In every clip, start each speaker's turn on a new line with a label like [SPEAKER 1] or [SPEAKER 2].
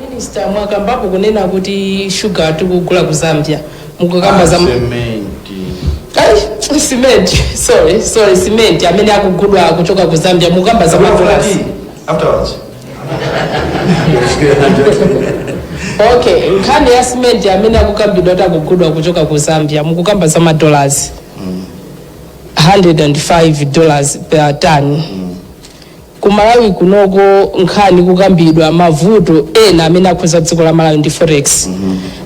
[SPEAKER 1] Minister mwakambapo kunena kuti shuga tikugula ku Zambia mukukamba za Ai, cement sorry sorry cement amene akugulidwa kuchoka ku Zambia mukukamba za madollars afterwards okay nkhani ya cement amene akukambidwa kuti akugulidwa kuchoka ku zambia mukukamba za madollars 105 dollars per ton ku malawi kunoko nkhani kukambidwa mavuto ena amene akhuza dziko la malawi ndi forex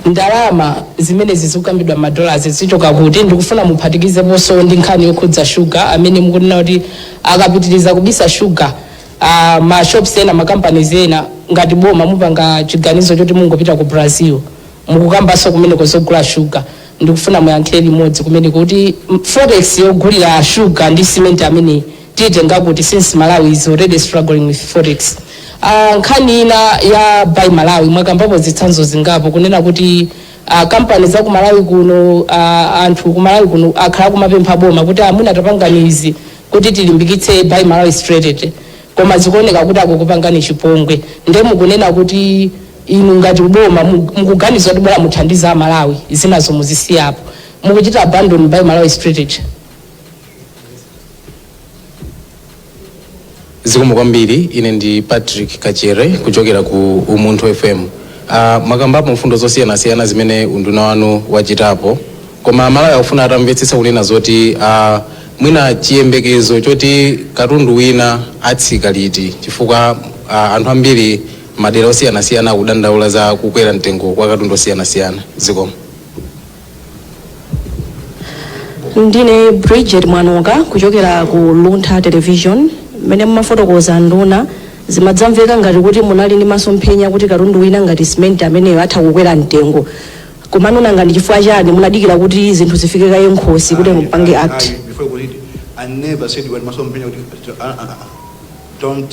[SPEAKER 1] ndalama zimene zikukambidwa madollars zichoka kuti ndikufuna muphatikizeponso ndi nkhani yokhudza shuga amene mukunena kuti akapitiriza kubisa shuga a ma shops ena ma companies ena ngati boma mupanga chiganizo choti mungopita ku Brazil mukukambanso kumeneko zogula sugar ndikufuna muyankhire limodzi kunena kuti mm, forex yogulira sugar ndi cement ameneyu mutenga kuti since Malawi is already struggling with forex uh, nkhani ina ya buy Malawi mwakambapo zitsanzo zingapo kunena kuti uh, kampani za ku Malawi kuno uh, anthu ku Malawi kuno akhala kumapempha boma kuti amuna tapangani izi kuti tilimbikitse buy Malawi strategy koma zikuoneka kuti akukupangani chipongwe nde mukunena kuti inu ngati boma mu- mukuganiza kuti bora muthandize a Malawi zinazo muzisiya po mukuchita abandon buy Malawi strategy
[SPEAKER 2] Zikomo kwambiri ine ndi Patrick Kachere kuchokera ku Umunthu FM aah mwakambapo mfundo zosiyanasiyana zimene unduna wanu wachitapo koma amalawi akufuna atamvetsetsa kunena zoti aah mwina chiyembekezo choti katundu wina atsika liti chifukwa aah anthu ambiri madera osiyanasiyana akudandaula za kukwera mtengo kwa katundu osiyanasiyana zikomo.
[SPEAKER 3] ndine bridget mwanoka kuchokera ku luntha television mmene mumafotokoza anduna zimadzamveka ngati kuti munali ndi masomphenya kuti katundu wina ngati simenti ameneyo atha kukwera mtengo komano nanga ndi chifukwa chani munadikira kuti zinthu zifike kaye nkhosi kuti mupange act I, I, before we read, I
[SPEAKER 4] never said we had masomphenya kuti uh, uh, uh, don't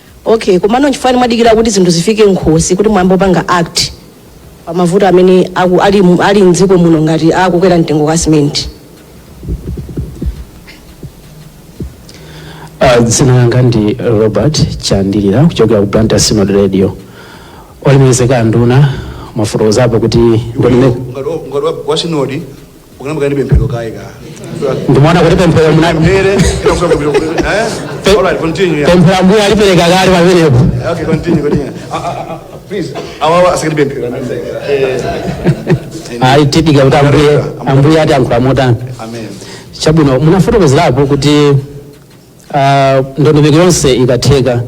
[SPEAKER 4] Okay,
[SPEAKER 3] komano nchifukwa chani mwadikira kuti zinthu zifike nkhosi kuti muyambe kupanga act pa mavuto amene aku, ali, mu- ali mdziko muno ngati akukwera mtengo kwa simenti
[SPEAKER 5] Ah, dzina langa ndi robert chandilira kuchokera ku blantyre synod radio olemekezeka anduna mwafotokozapo kuti ndondomeko ngati wa- ngati wa- wa
[SPEAKER 4] sinodi Bwana mukanayamba ndi pemphero kaye ka.
[SPEAKER 5] ndimaona kuti pemphero mna- Pere, kila mtu akubilo.
[SPEAKER 4] Eh? Pe- All right, continue. yeah. pemphero ambuye
[SPEAKER 5] alipereka kale pamenepo Okay, continue, continue.
[SPEAKER 4] Ah, ah, ah, ah, please. Awawa asikuti pemphero. Eh,
[SPEAKER 5] ayi tidikira kuti ambuye ambuye atiyankhula motani
[SPEAKER 4] Amen.
[SPEAKER 5] chabwino munafotokozapo kuti ah, ndondomeko yonse ikatheka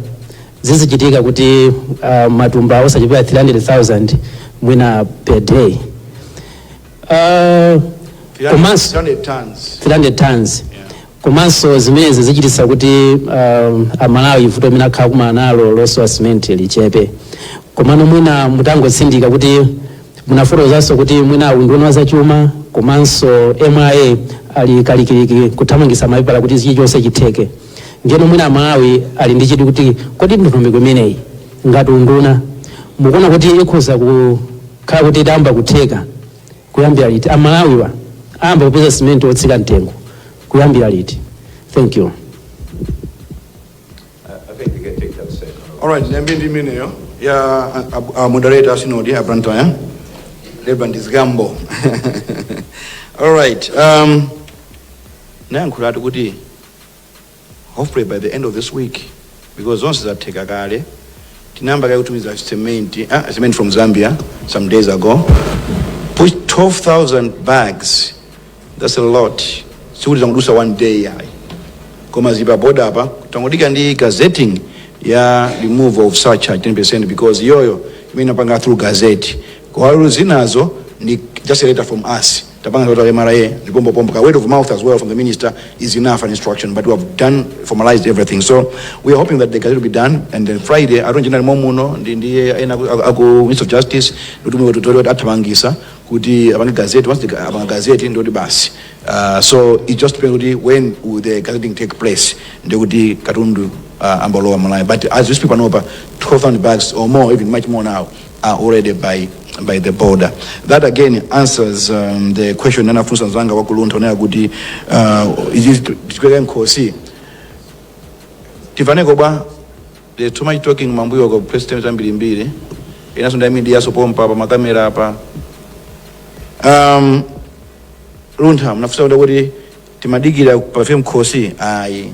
[SPEAKER 5] zizichitika kuti ah, matumba osachepera 300000 mwina per day Uh, komanso 300 tons. 300 tons komanso zimenezi zichititsa kuti um, amalawi vuto limene akhala akukumana nalo losowa simenti lichepe komano mwina mutangotsindika kuti munafotokozanso kuti mwina aunduna wa zachuma komanso MRA ali kalikiliki kuthamangitsa mapepala kuti chilichonse chitheke ndiyeno mwina amalawi ali ndi chidwi kuti kodi ndondomeko imeneyi ngati unduna mukuona kuti ikhoza ku Khala kuti idzayamba kutheka kuyambira liti? Amalawiwa ayamba kupeza simenti wotsika mtengo kuyambira liti? Thank you. Alright,
[SPEAKER 6] ndiyambe
[SPEAKER 4] ndi imeneyo ya a- a- a moderator a sinodi ya Blantyre Reverend Zgambo. Alright, um, nayankhulatu kuti hopefully by the end of this week because zonse zatheka kale tinayamba kale kutumiza cement ah, cement from zambia some days ago push 12000 bags that's a lot sikuti tangodusa one day ayi koma zipa boda apa tangodika ndi gazetting ya remove of surcharge 10% because iyoyo imene inapanga through gazette kwalu zinazo ndi just a letter from us Tapanga total mra ndi pompo pompo ka word of mouth as well from the minister is enough an instruction but we have done formalized everything so we are hoping that the gazette will be done and then friday atonje ndani momuno ndi ndi ena aku- aku- aku minister of justice kuti mwe tutole kuti athamangisa kuti apange gazette once the- apanga gazette ndoti basi uh, so it just depends kuti when will the gazetting take place ndikuti katundu uh, ambalowa malawi but as we speak panopa 12000 bags or more even much more now are already by by the border that again answers um, the question anafunsa mzanga wa ku Luntha wonena kuti uh, ikatifika mkhosi tifaneko bwa there's too much talking mambuyo kwa president ambirimbiri inanso ndi a media so pompa pa makamera apa um, luntha mnafunsa kuti kuti timadikira afike mkhosi ayi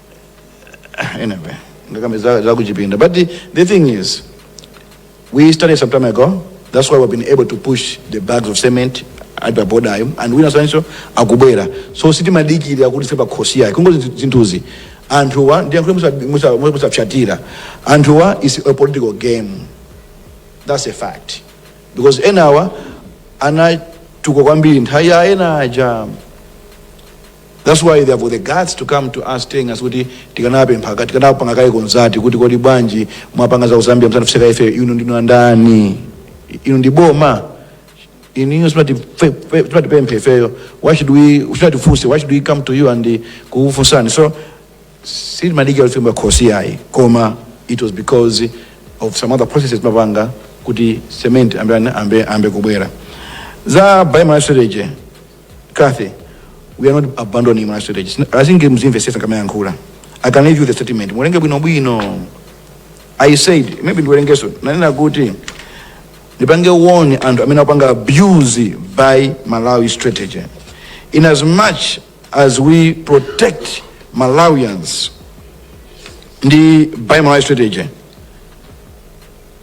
[SPEAKER 4] anyway ndikakambe za- zakuchipinda but the, the thing is we started some time ago that's why we've been able to push the bags of cement ali pa boda ayo and ena enanso akubwera so sitimadikira kuti zifike mkhosi yayi kungo zinthuzi anthuwa ndi yankhuti musa- musa- musawatsatire anthuwa it's a political game that's a fact because enawa anatuka kwambiri nthawi ya ena aja That's why they have got the guts to come to us telling us kuti tikanapempha ka- tikanapanga kaye consult kuti kodi bwanji mwapanga za Zambia musanafunse ife inu ndinu andani inu ndi boma inu simatipemphe ifeyo why should we simatifunsa why should we come to you and uh, kukufunsani so sitimadikira zifike mkhosi yayi koma it was because of some other processes timapanga kuti cement ayambe ayambe ayambe kubwera za biomass storage Kathy, we are not abandoning Buy Malawi strategy. Sina- I think muzimvetsetsa ndikamayankhula. I can leave you the statement. Muwerenge bwino bwino. I said, maybe ndiwerengenso. Nanena kuti ndipange warn anthu amene akupanga abuse Buy Malawi strategy. In as much as we protect Malawians ndi Buy Malawi strategy,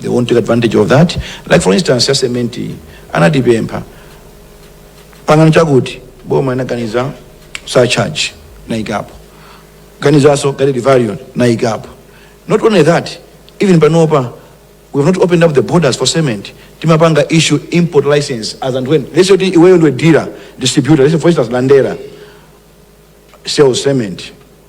[SPEAKER 4] they won't take advantage of that like for instance ya cement iyi, anatipempha pangani chakuti boma inaganiza surcharge naikapo ganizanso guiding value naikapo not only that even panopa we have not opened up the borders for cement timapanga issue import license as and when let's say kuti iweyo ndiwe dealer distributor let's say for instance landera sells cement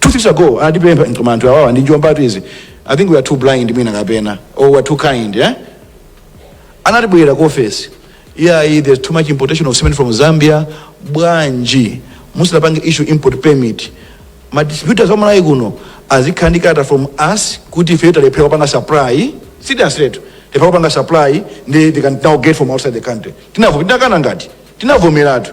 [SPEAKER 4] two weeks ago anatipempha koma anthu awawa ndi njombatu izi i think we are too blind mwina kapena or we are too kind eh? anabwera ku office yeah there's too much importation of cement from zambia bwanji muzingopanga issue import permit ma distributors a Malawi kuno azikhala ndi kalata from us kuti ife talephera kupanga supply seriously tu talephera kupanga supply ndi they can now get from outside the country tinavo tinakana ngati tinavomeratu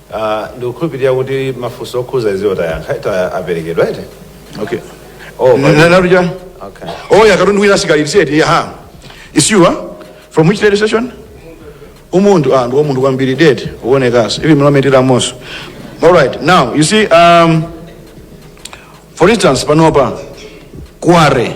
[SPEAKER 6] Aaa ndikukhulupilira kuti mafunso okhudza izizo tayankha eti
[SPEAKER 4] aperekedwa eti okay oh Na- na-
[SPEAKER 6] naruja okay
[SPEAKER 4] oh ya katundu wina asikali said yeah ha it's you huh? from which radio station Umunthu ah ndi umunthu kwambiri dead ukuonekanso ivi mlometera moso all right now you see um for instance panopa kware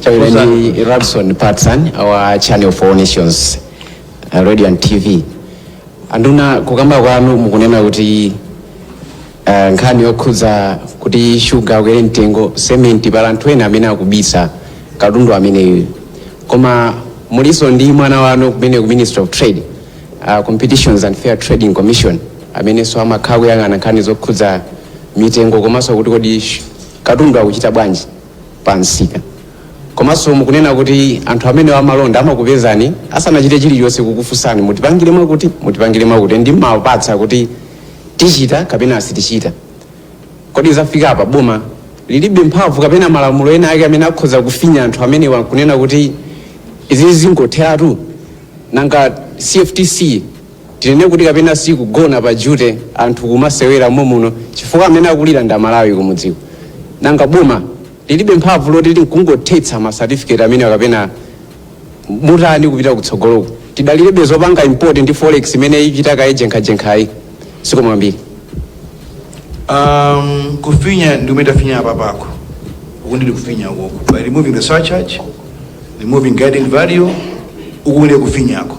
[SPEAKER 6] Chabwino
[SPEAKER 7] ndi Rabson Patson wa Channel for All Nations uh, radio and TV. Anduna kukamba kwanu mukunena kuti uh, nkhani yokhudza kuti shuga akwere mtengo sementi pali anthu ena amene akubisa katundu ameneyu koma mulinso ndi mwana wanu kumene ku Ministry of Trade uh, Competitions and Fair Trading Commission amenenso amakhala akuyang'ana nkhani zokhudza mitengo komanso kuti kodi sh- katundu akuchita bwanji pa msika. Komanso mukunena kuti anthu amenewa amalonda amakupezani asanachite chilichonse kukufunsani mutipangire mwakuti, mutipangire mwakuti ndi mumawapatsa kuti tichita kapena sitichita. Kodi zafika apa boma lilibe mphamvu kapena malamulo ena ake amene akhoza kufinya anthu amenewa n'kunena kuti izizi zingotheratu? Nanga CFTC Tinene kuti kapena ikugona pa duty anthu kumasewera momuno chifukwa amene akulira ndi amalawi kumudziku. Nanga boma lilibe mphamvu loti likhoza kungothetsa ma certificate amenewa kapena mutani kupita kutsogoloku. Tidalirebe zopanga import ndi forex imene ichita kaye jenkhajenkhayi. Zikomo kwambiri.
[SPEAKER 4] Um, kufinya ndi kumene tafinya apapa uku ndi kufinyako by removing the surcharge removing guiding value uku ndi kufinyako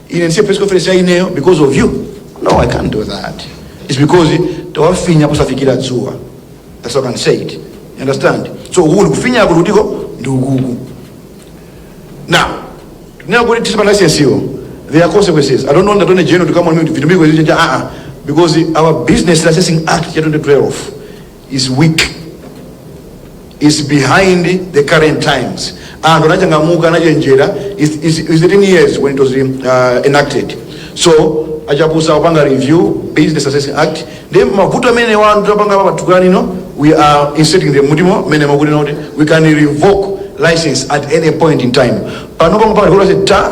[SPEAKER 4] ine ndise press conference ya ineyo because of you no i can't do that it's because tawafinya kusafikira dzuwa that's what i can say it you understand so uku ndikufinya ako lutiko ndi ukuku now now kuti tisipa license yo there are consequences i don't know ndatone jeno tikamwa mimi vitu miko zija ah ah because our business licensing act ya 2012 is weak is behind the current times anthu anachangamuka anachenjera is, is, is it in years when it was uh, enacted so achapusa kupanga review Business Licensing Act then mavuto amene anthu tapanga pa patukani no we are inserting them mudimo mmene makuti not we can revoke license at any point in time pano pamwe pali kuti ta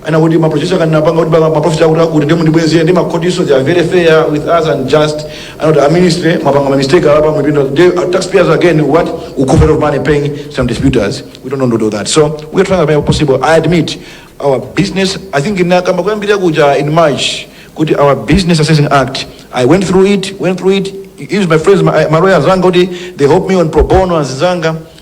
[SPEAKER 4] ana kuti maprojekti akanapanga kuti maprofit akuti akuti ndiye mundibwezere ndi makhotiso they are very fair with us and just ndiye kuti a ministry mwapanga mamistake apa muwalipira they are taxpayers again we'll cough a lot of money paying some disputes we don't want to do that so we are trying to make it possible i admit our business i think nakamba kuyambira kuja in march kuti our Business Licensing Act i went through it went through it used my friends my, my lawyers zanga kuti they help me on pro bono anzanga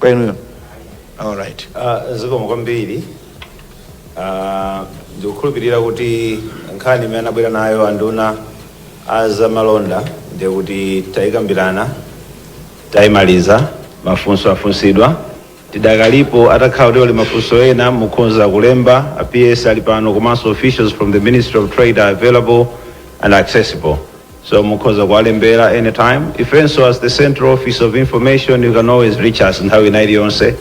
[SPEAKER 4] kwa inuyo alright Ah, zikomo
[SPEAKER 6] kwambiri Ah, ndikukhulupirira kuti nkhani imene anabwera nayo anduna a zamalonda ndiye kuti tayikambirana tayimaliza mafunso afunsidwa tidakalipo atakhala kuti ali mafunso ena mukhonza kulemba, a ps ali pano komanso officials from the ministry of trade are available and accessible So mukhoza kuwalembera anytime. Ifenso as the Central Office of Information you can always reach us nthawi ina iliyonse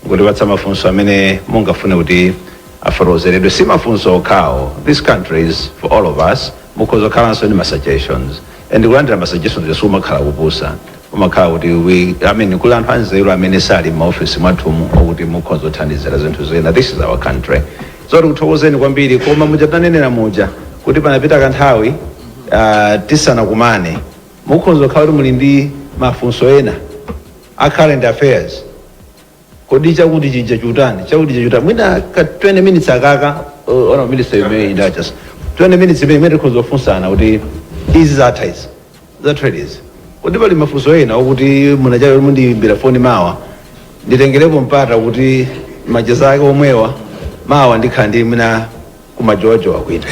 [SPEAKER 6] kutipatsa mafunso amene mungafune kuti afotokozeredwe. Si mafunso okhawa. This country is for all of us. Mukhoza kukhalanso ndi ma suggestions. And kulandira ma suggestions ija sikumakhala kupusa. Kumakhala kuti we, I mean kuli anthu anzeru amene sali m'maofesi mwathumu okuti mukhonza kuthandizira zinthu zina, this is our country. So tikuthokozeni kwambiri koma muja tinanenera muja kuti panapita kanthawi ah, tisanakumane mukhonza kukhala kuti muli ndi mafunso ena a current affairs, Kodi chakuti chija ndi chotani? Chakuti chija ndi chotani? Mwina ka 20 minutes akaka uh, honourable minister you may indulge us. 20 minutes imene imene tikhoza kufunsana kuti izi zatha izi. Za trade izi. Kodi pali mafunso ena okuti mwachayo mundiyimbire foni mawa. Nditengerepo mpata kuti macheza ake omwewa mawa ndikhala ndi kwina kumajowajowa kwina.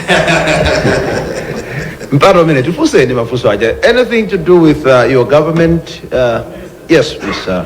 [SPEAKER 6] Mpata umene tifunseni mafunso aja. Anything to do with uh, your government? Uh, yes, Mr.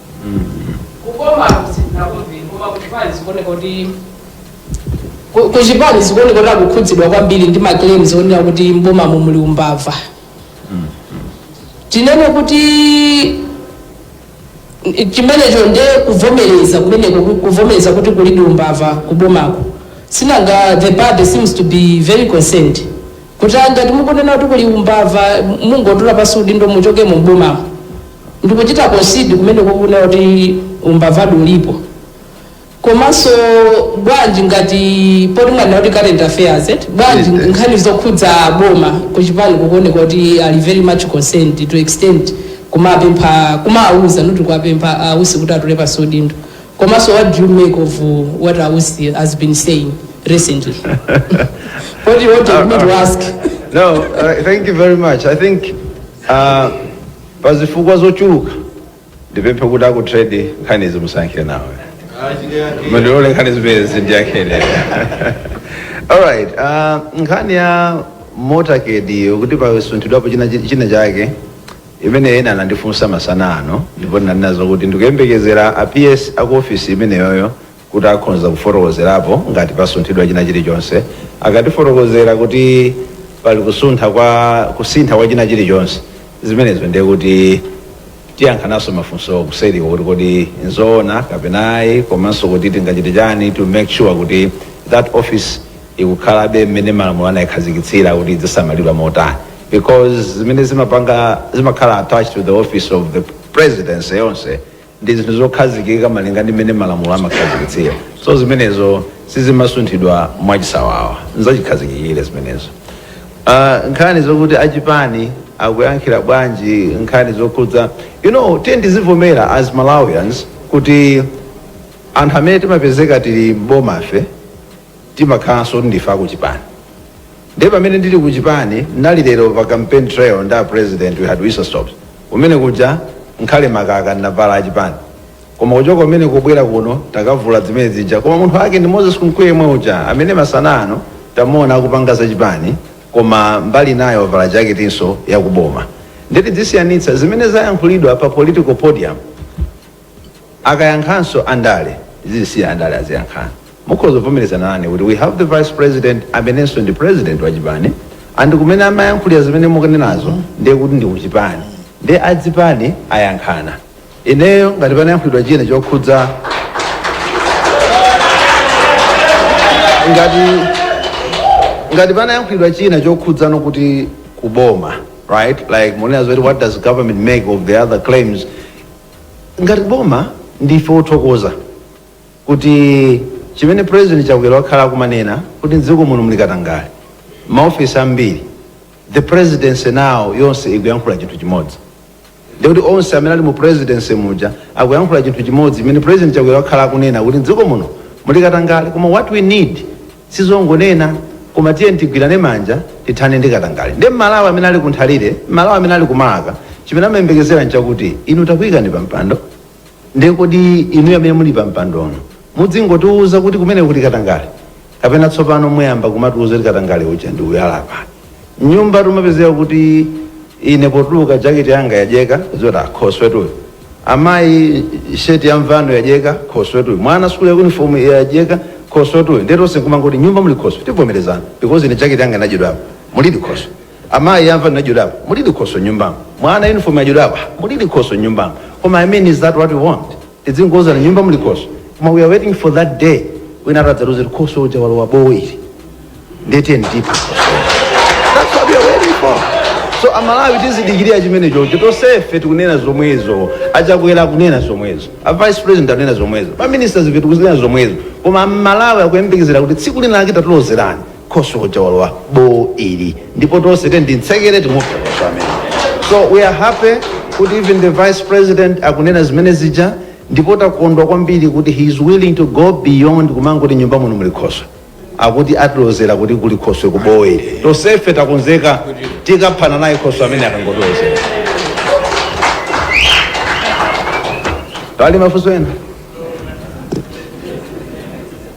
[SPEAKER 1] kubomaku sitinakumveni koma kuchipani zikuoneka kuti ku- kuchipani zikuoneka kuti akukhudzidwa kwambiri ndi maclaims onena kuti mbomamu muli umbava tinene kuti n- chimenecho nde kuvomereza kumeneko ku- kuvomereza kuti kulidi umbava kubomako sinanga the party seems to be very concerned Kuti ngati mukunena kuti kuli umbava mungotula pansi udindo muchokemo m'bomamo ndikuchita concede kumeneko kunena kuti umbavadi ulipo. Komanso bwanji ngati poti mwanena kuti current affairs eti, bwanji nkhani zokhudza boma kuchipani kukuoneka kuti ali very much concerned to extent kumapempha, kumawauza not kuwapempha a Usi kuti atule pansi udindo. Komanso what do you make of uh, what a Usi has been saying recently? what do you want me to ask? no uh,
[SPEAKER 6] thank you very much i think uh, pazifukwa zochuluka ndipemphe kuti a ku trade nkhani izi musayankhire nawo mundilole nkhani zimenezi ndiyankhire alright uh, nkhani ya motorcade kuti pasunthidwapo china chake imeneyo ena anandifunsa masana ano ndipo ndinanena zokuti ndikuyembekezera a PS a ku office imeneyoyo kuti akhonza kufotokozerapo ngati pasunthidwa china chilichonse. Akatifotokozera kuti pali kusuntha kwa kusintha kwa china chilichonse zimenezo ndiye kuti tiyankhananso mafunsowo kuseriko kuti kodi nzoona kapena ayi komanso kuti tingachite chani to make sure kuti that office ikukhalabe mmene malamulo anayikhazikitsira kuti idzisamalidwa motani because zimene zimapanga zimakhala attached to the office of the presidency yonse ndi zinthu zokhazikika malinga ndi mmene malamulo amakhazikitsira so zimenezo sizimasunthidwa mwachisawawa nzachikhazikikire zimenezo Ah, nkhani zokuti achipani akuyankhira bwanji nkhani zokhudza you know tiyeni tizivomera as malawians kuti anthu amene timapezeka tili m'bomafe timakhalanso kuti ndife akuchipani ndiye pamene ndili kuchipani ndinali lero pa campaign trail ndi a president we had whistle stops kumene kuja ngakhale makaka ndinavala achipani koma kuchoka kumene kubwera kuno takavula zimene zija koma munthu wake ndi moses kunkuyu yemwe uja amene masana ano tamuona akupanga zachipani koma mbali inayo wavala jaketinso yakuboma nde tizisiyanitsa zimene zayankhulidwa pa political podium Akayankhanso andale tizisiya andale aziyankhana. Mukhoza kuvomerezana nane kuti we have the vice president amenenso ndi president wa chipani and kumene amayankhulira zimene mukunenazo ndiye kuti ndi kuchipani ndiye azipani ayankhana. Ineyo ngati panayankhulidwa china chokhudza ngati ngati panayankhulidwa china chokhudzano kuti kuboma right like mukunena zoti what does government make of the other claims ngati boma ndife othokoza kuti chimene president chakwera wakhala akumanena kuti mdziko muno muli katangale maofesi ambiri the presidency now yonse ikuyankhula chinthu chimodzi ndikuti onse amene ali mu presidency muja akuyankhula chinthu chimodzi chimene president chakwera wakhala akunena kuti mdziko muno muli katangale koma what we need sizongonena koma tiyeni tigwirane manja tithane ndi katangale nde mmalawi amene ali kunthalire mmalawi amene ali kumalaka chimene amayembekezera nchakuti inu takuikani pampando nde kodi inuyo amene muli pampandono mudzingotiuza kuti kumene kuti katangale kapena tsopano muyamba kumatiuza kuti katangale uja ndi uyu ali apa nyumba tumapezeka kuti ine potuluka jaketi yanga yajegeda zoti khoswetuyo amayi sheti ya mvano yajegeda khoswetuyo mwana sukulu ya uniform yajegeda khoswetuyo nde tonse nkumangoti nyumba muli khoswe tivomerezane because ine jaketi yanga inadyedwapo mulidi khoswe amayi ya mvano inadyedwapo mulidi khoswe nyumbamo mwana uniform yadyedwapo mulidi khoswe nyumbamo koma i mean is that what we want Tidzingouzana nyumba muli khoswe koma we are waiting for that day wina atadzaloze kuti khoswe uja walowa bowo ili ndiye tiyeni tiphe That's what we are waiting for. so amalawi akudikirira chimenecho tonsefe tikunena zomwezo achakwera akunena zomwezo a vice president akunena zomwezo ma ministers ife tikunena zomwezo koma amalawi akuyembekezera kuti tsiku lina lake tatilozerani khoswe uja walowa bowo ili ndipo tonse tiyeni timutsekere timuphe khoswe amene so we are happy kuti even the vice president akunena zimene zija ndipo takondwa kwambiri kuti he is willing to go beyond kumangoti nyumba muno muli khoswe akuti atilozera kuti kuli khoswe ku bowo tonsefe takonzeka tikaphana naye khoswe amene akangotilozera pali mafunso ena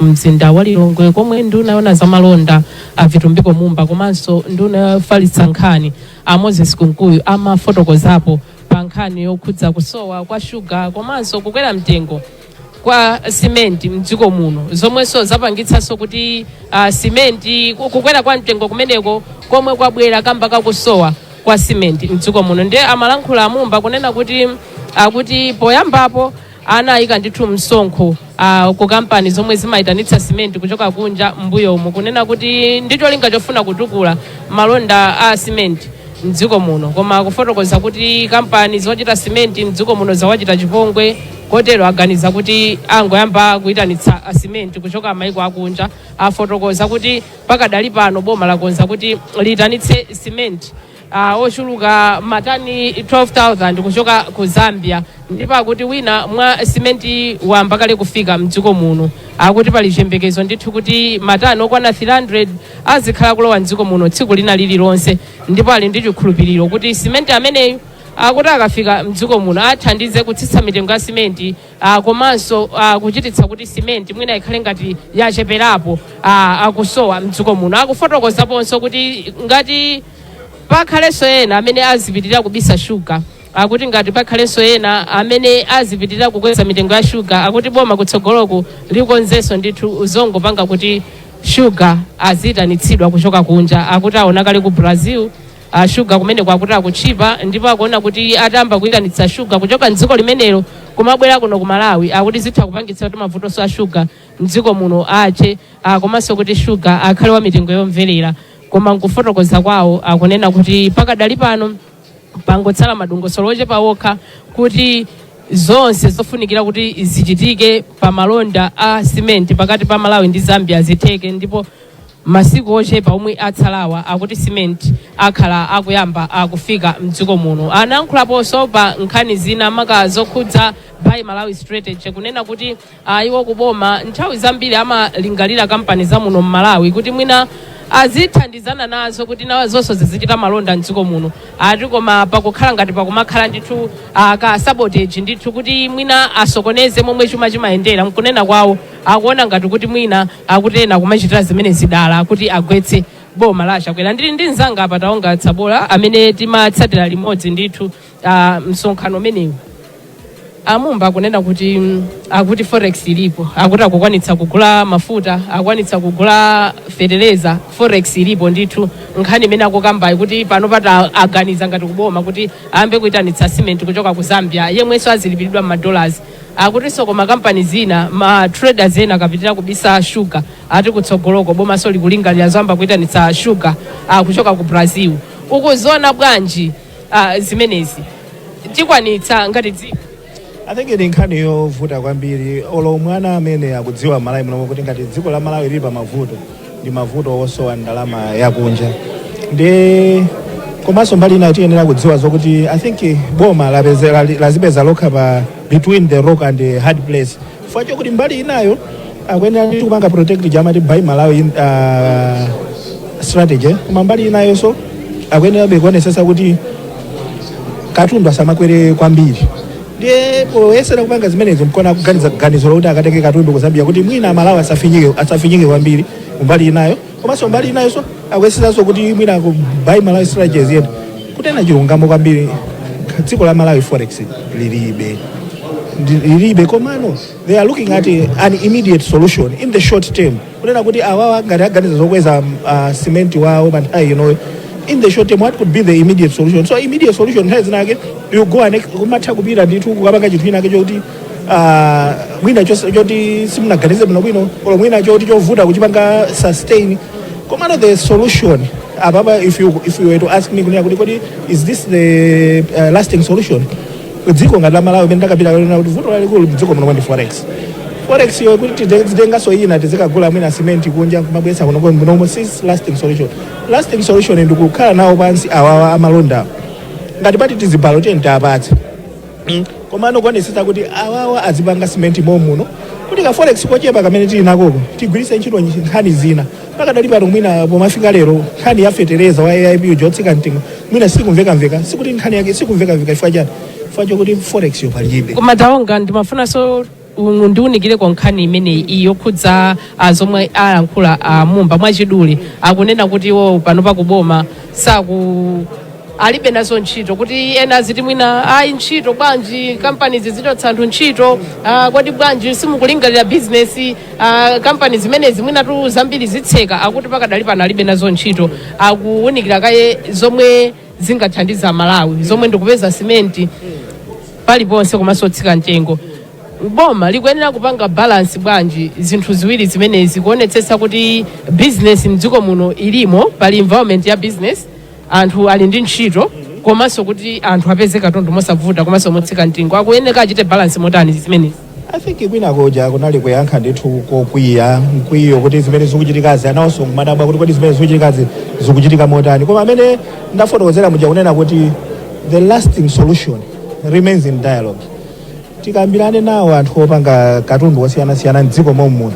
[SPEAKER 1] mzinda wa Lilongwe komwe nduna yona za malonda a Vitumbiko Mumba komanso nduna yofalitsa nkhani a Moses Kunkuyu amafotokozapo pa nkhani yokhudza kusowa kwa shuga komanso kukwera mtengo kwa simenti mdziko muno zomwenso zapangitsanso kuti uh, simenti ku- kukwera kwa mtengo kumeneko komwe kwabwera kamba kakusowa kwa simenti mdziko muno ndiye amalankhula amumba kunena kuti akuti poyambapo anayika ndithu msonkho ah, ku kampani zomwe zimayitanitsa simenti kuchoka kunja mbuyomu kunena kuti ndi cholinga chofuna kutukula malonda a simenti mdziko muno koma kufotokoza kuti kampani zochita simenti mdziko muno zawachita chipongwe kotero aganiza kuti angoyamba kuyitanitsa simenti kuchoka mayiko akunja afotokoza kuti pakadali pano boma lakonza kuti liyitanitse simenti uh, wochuluka matani 12000 kuchoka ku zambia ndipo akuti wina mwa simenti wayamba kale kufika mdziko muno akuti pali chiyembekezo ndithu kuti matani okwana 300 azikhala akulowa mdziko muno tsiku lina lililonse ndipo ali ndi chikhulupiriro kuti simenti ameneyu akuti akafika mdziko muno athandize kutsitsa mitengo ya simenti ah, komanso ah, kuchititsa kuti simenti mwina ikhale ngati yacheperapo ah, akusowa mdziko muno akufotokozaponso kuti ngati pakhalenso ena amene azipitirira kubisa shuga akuti ngati pakhalenso ena amene azipitirira kukweza mitengo ya shuga akuti boma kutsogoloko likonzenso ndithu zongopanga kuti shuga azitanitsidwa kuchoka kunja akuti aona kale ku brazil a shuga kumeneko akuti akutchipa ndipo akuona kuti atayamba kuyitanitsa shuga kuchoka mdziko limenelo kumabwera kuno ku malawi akuti zitha kupangitsa kuti mavutonso a shuga mdziko muno athe ah, komanso kuti shuga akhale wa mitengo yomverera koma nkufotokoza kwawo akunena kuti pakadali pano pangotsala madongosolo ochepa okha kuti zonse zofunikira kuti zichitike pa malonda a simenti pakati pa malawi ndi zambia zitheke ndipo Masiku ochepa omwe atsalawa akuti Cement akhala akuyamba kufika mdziko muno. Anayankhulaponso pa nkhani zina maka zokhudza Buy Malawi Strategy kunena kuti a iwo ku boma nthawi zambiri amalingalira kampani za muno m'Malawi kuti mwina azithandizana nazo kuti nazonso zizichita malonda mdziko muno. Ati koma pakukhala ngati pakumakhala ndithu a ka sabotage ndithu kuti mwina asokoneze momwe chuma chimayendera mkunena kwawo. akuona ngati kuti mwina akuti ena kumachitira zimenezi dala kuti agwetse boma la a Chakwera. Ndili ndi mnzanga apa Taonga Sabola amene timatsatira limodzi ndithu ah, msonkhano umenewu. A Mumba akunena kuti mm, akuti forex ilipo, akuti akukwanitsa kugula mafuta, akukwanitsa kugula feteleza, forex ilipo ndithu. Nkhani imene akukambayi kuti panopa aganiza ngati kuboma kuti ayambe kuitanitsa cement kuchoka ku Zambia, yemwenso azilipiridwa m'madollars Akutinso koma kampani zina, ma traders ena akapitira kubisa sugar ati kutsogoloko bomanso likulingalira zoyamba kuitanitsa sugar kuchoka ku Brazil. Ukuziona bwanji zimenezi? Tikwanitsa ngati dziko? I think
[SPEAKER 8] ndi nkhani yovuta kwambiri olo mwana amene akudziwa Malawi munomo kuti ngati dziko la Malawi lili pamavuto ndi mavuto osowa ndalama yakunja ndi komanso mbali ina tiyenera kudziwa zokuti i think boma lapeze- lali- lazipeza lokha pa between the rock and the hard place chifukwa chokuti mbali inayo akuyenera ndi kupanga protect ija amati buy malawi in- ah, strategy koma mbali inayonso akuyenerabe kuonesesa kuti katundu asamakwere kwambiri ndiye poyesera kupanga zimenezo mkona kuganiza ganizo lokuti akatenge katundu ku zambia kuti mwina amalawi asafinyike asafinyike kwambiri kumbali inayo komanso mbali inayonso akuyeseranso kuti mwina ku buy malawi strategy iyende kunena chilungamo kwambiri dziko la malawi forex lilibe Ndi- lilibe komano they are looking at a, an immediate solution in the short term kunena kuti awawa ngati aganiza zokweza uh, cement wawo pa nthawi inoyo in the short term what could be the immediate solution so immediate solution nthawi zinake you go and kumatha kupita ndithu kukapanga chinthu chinake chokuti uh, mwina chos- choti simunaganize bwino bwino olo mwina choti chovuta kuchipanga sustain komano the solution apapa if you, if you were to ask me kunena kuti kodi is this the uh, lasting solution dziko ngati la malawi mmene ndakambira kale kuti vuto lalikulu mdziko muno ndi forex forex yo kuti tizitenganso ina tizikagula mwina simenti kunja kumabweretsa kuno kuno munomo si lasting solution lasting solution ndi kukhala nawo pansi awawa amalonda ngati mpata tiziwalola tiye tiyapatse Mm. komano kuonesesa kuti awawa azipanga simenti momuno kuti ka forex kochepa kamene tili nakoko tigwiritse ntchito nkhani zina pakadali pano mwina pomafika lero nkhani ya fetereza wa aip uja otsika mtengo mwina sikumvekamveka sikuti nkhani yake sikumvekamveka chifukwa chani chifukwa chokuti forex yo palibe koma taonga ndimafunanso
[SPEAKER 1] unu- undiunikireko nkhani imeneyi iyi yokhudza ah, zomwe alankhula a mumba mwachidule akunena kuti iwo pano pakuboma saku alibe nazo ntchito kuti ena aziti mwina ayi ntchito bwanji kampani zizichotsa anthu ntchito ah, kodi bwanji simukulingalira bizinesi ah, kampani zimenezi mwinatu zambiri zitseka akuti pakadali pano alibe nazo ntchito akuwunikira kaye zomwe zingathandize amalawi zomwe ndikupeza simenti paliponse komanso otsika mtengo boma likuyenera kupanga balansi bwanji zinthu ziwiri zimenezi kuonetsetsa kuti bizinesi mdziko muno ilimo pali environment ya bizinesi anthu ali ndi ntchito komanso kuti anthu apeze katundu mosavuta komanso motsika mtengo akuyeneka achite balance motani zimenezi i think kwina
[SPEAKER 8] koja kunali kuyankha ndithu kokwiya mkwiyo kuti zimene zikuchitikazi anawonso akumadabwa kuti kodi zimene zikuchitikazi zikuchitika motani koma mmene ndafotokozera muja kunena kuti the lasting solution remains in dialogue tikambirane nawo anthu opanga katundu wosiyanasiyana mdziko momuno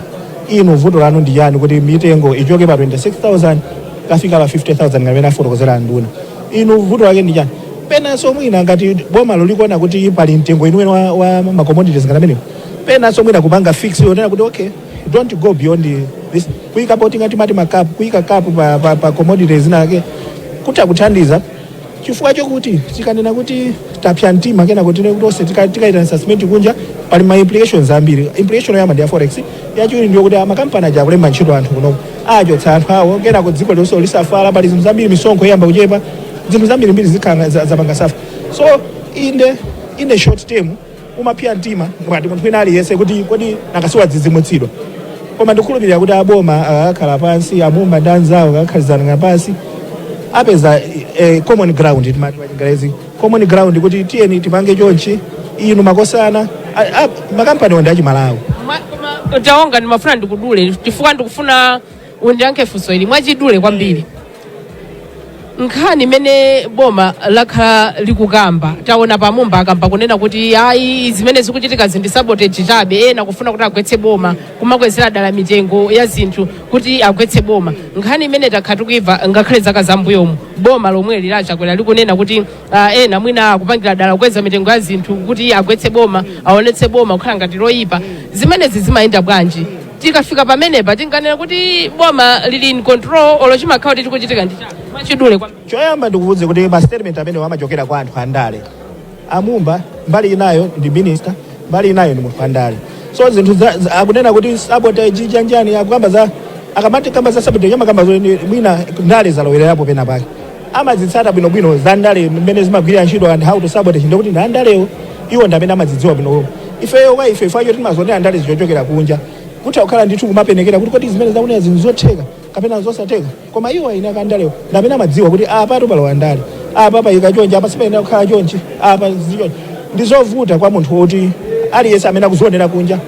[SPEAKER 8] inu vuto lanu ndi chani kuti mitengo ichoke pa 26000 kukafika pa 50000 ngati mmene afotokozera anduna inu vuto lake ndi chani penanso mwina ngati bomalo likuona kuti pali mtengo weniweni wa, wa macommodities ngati amenewo penanso mwina kupanga fix yonena kuti okay don't go beyond this kuyika poti ngati mati makapu kuyika kapu pa, pa, pa commodities zinazake kuti akuthandiza chifukwa chokuti tikanena kuti tapsa mtima kenako tinene kuti tonse tika- tikaitanisa simenti kunja pali ma implications ambiri implication yoyamba ndi ya forex yachiwiri ndi yokuti makampani aja akulemba ntchito anthu kunoko achotsa anthu awo kenako dziko lonse lisafara pali zinthu zambiri misonkho iyamba kuchepa zinthu zambirimbiri zikhala za- zapanga safa so in the in the short term umapsya mtima ngati munthu wina aliyense kuti kodi nanga siwadzidzimutsidwa koma ndikukhulupirira kuti aboma akakhala pansi amumba ndi anzawo akakhalizana pansi apeza eh, common ground timati pachingerezi common ground kuti tiyeni tipange chonchi inu makosana a- a- makampani onse achimalawi taonga
[SPEAKER 1] ndimafuna ndikudule chifukwa ndikufuna undiyankhe funso ili mwachidule kwambiri nkhani imene boma lakhala likukamba taonapa amumba akamba kunena kuti ayi zimene zikuchitika ndi sabotage chabe ena kufuna kuti agwetse boma kumakwezera dala mitengo ya zinthu kuti agwetse boma nkhani imene takhala tikuimva ngakhale zaka zambuyomu boma lomweli la chakwera likunena kuti ah, ena mwina akupangira dala kukweza mitengo ya zinthu kuti agwetse boma aonetse boma kukhala ngati loyipa zimenezi zimayenda bwanji tikafika pamenepa tinganena kuti boma lili in control olo chimakhala kuti chikuchitika ndi chani mwachidule kwa choyamba ndikuwuze kuti
[SPEAKER 8] ma statement amenewa amachokera kwa anthu andale amumba mbali inayo ndi minister mbali inayo ndi munthu andale so zinthu za- za- akunena kuti sabotage chanichani akukamba za akamati akamba za sabotage amakamba zoti mwina ndale zalowererapo pena pake amazitsata bwinobwino za ndale mmene zimagwirira ntchito and how to sabotage ndikuti ndi andalewo iwo ndi amene amazidziwa bwinobwino ifeyo kwa ife ifeyo timazionera andale kuchokera kunja kutha kukhala ndithu kumapenekera kuti kodi zimene akunena zinthu zotheka kapena zosatheka koma iwo eni ake andalewo ndi amene amadziwa kuti apa tu palowa ndale apa paikidwa chonchi apa sipayenera kukhala chonchi apa zichonchi ndi zovuta kwa munthu woti aliyense amene akuzionera kunja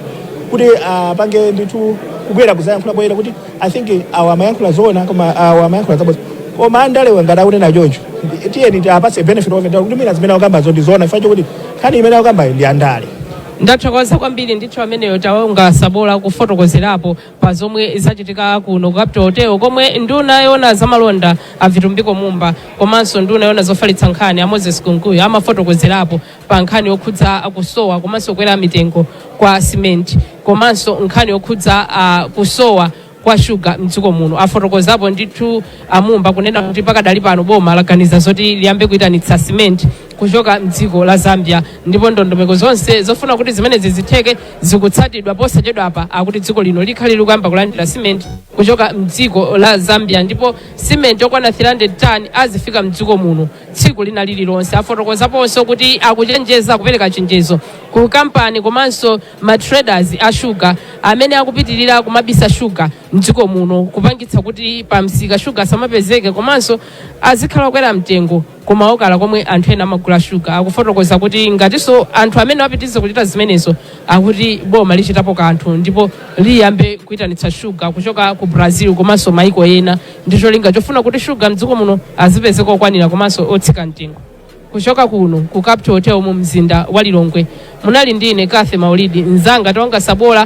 [SPEAKER 8] kuti apange ndithu kubwera kuzayankhula poyera kuti I think awa amayankhula zoona koma awa amayankhula zabodza koma andalewo ngati akunena choncho ndi- tiyeni tiwapatse benefit of the doubt kuti mwina zimene akukambazo ndi zoona chifukwa chokuti nkhani imene akukambayo ndi yandale ndathokoza
[SPEAKER 1] kwambiri ndithu ameneyo taonga sabola kufotokozerapo pa zomwe zachitika kuno ku capital hotel komwe nduna yona zamalonda avitumbiko mumba komanso nduna yona zofalitsa nkhani a moses kunkuyu amafotokozerapo pa nkhani yokhudza kusowa komanso kukwera mitengo kwa simenti komanso nkhani yokhudza ah, kusowa kwa shuga mdziko muno afotokozapo ndithu amumba kunena kuti pakadali pano boma laganiza zoti liyambe kuyitanitsa simenti kuchoka mdziko la zambia ndipo ndondomeko zonse zofuna kuti zimenezi zitheke zikutsatidwa posachedwapa akuti dziko lino likhale likuyamba kulandira simenti kuchoka mdziko la zambia ndipo simenti yokwana 300 tani izifika mdziko muno tsiku lina lililonse. Afotokozaponso kuti akuchenjeza akupereka chenjezo ku kampani komanso ma traders a shuga amene akupitirira kumabisa shuga mdziko muno kupangitsa kuti pa msika shuga asamapezeke komanso azikhala okwera mtengo kumaokala komwe anthu ena amagula shuga akufotokoza kuti ngatinso anthu amenewa apitiriza kuchita zimenezo akuti boma lichitapo kanthu ndipo liyambe kuyitanitsa shuga kuchoka ku brazil komanso maiko ena ndi cholinga chofuna kuti shuga mdziko muno azipezeka okwanira komanso otsika mtengo kuchoka kuno ku capital hotel mu mzinda wa lilongwe munali ndi ine kathe maulidi mzanga tonga sabola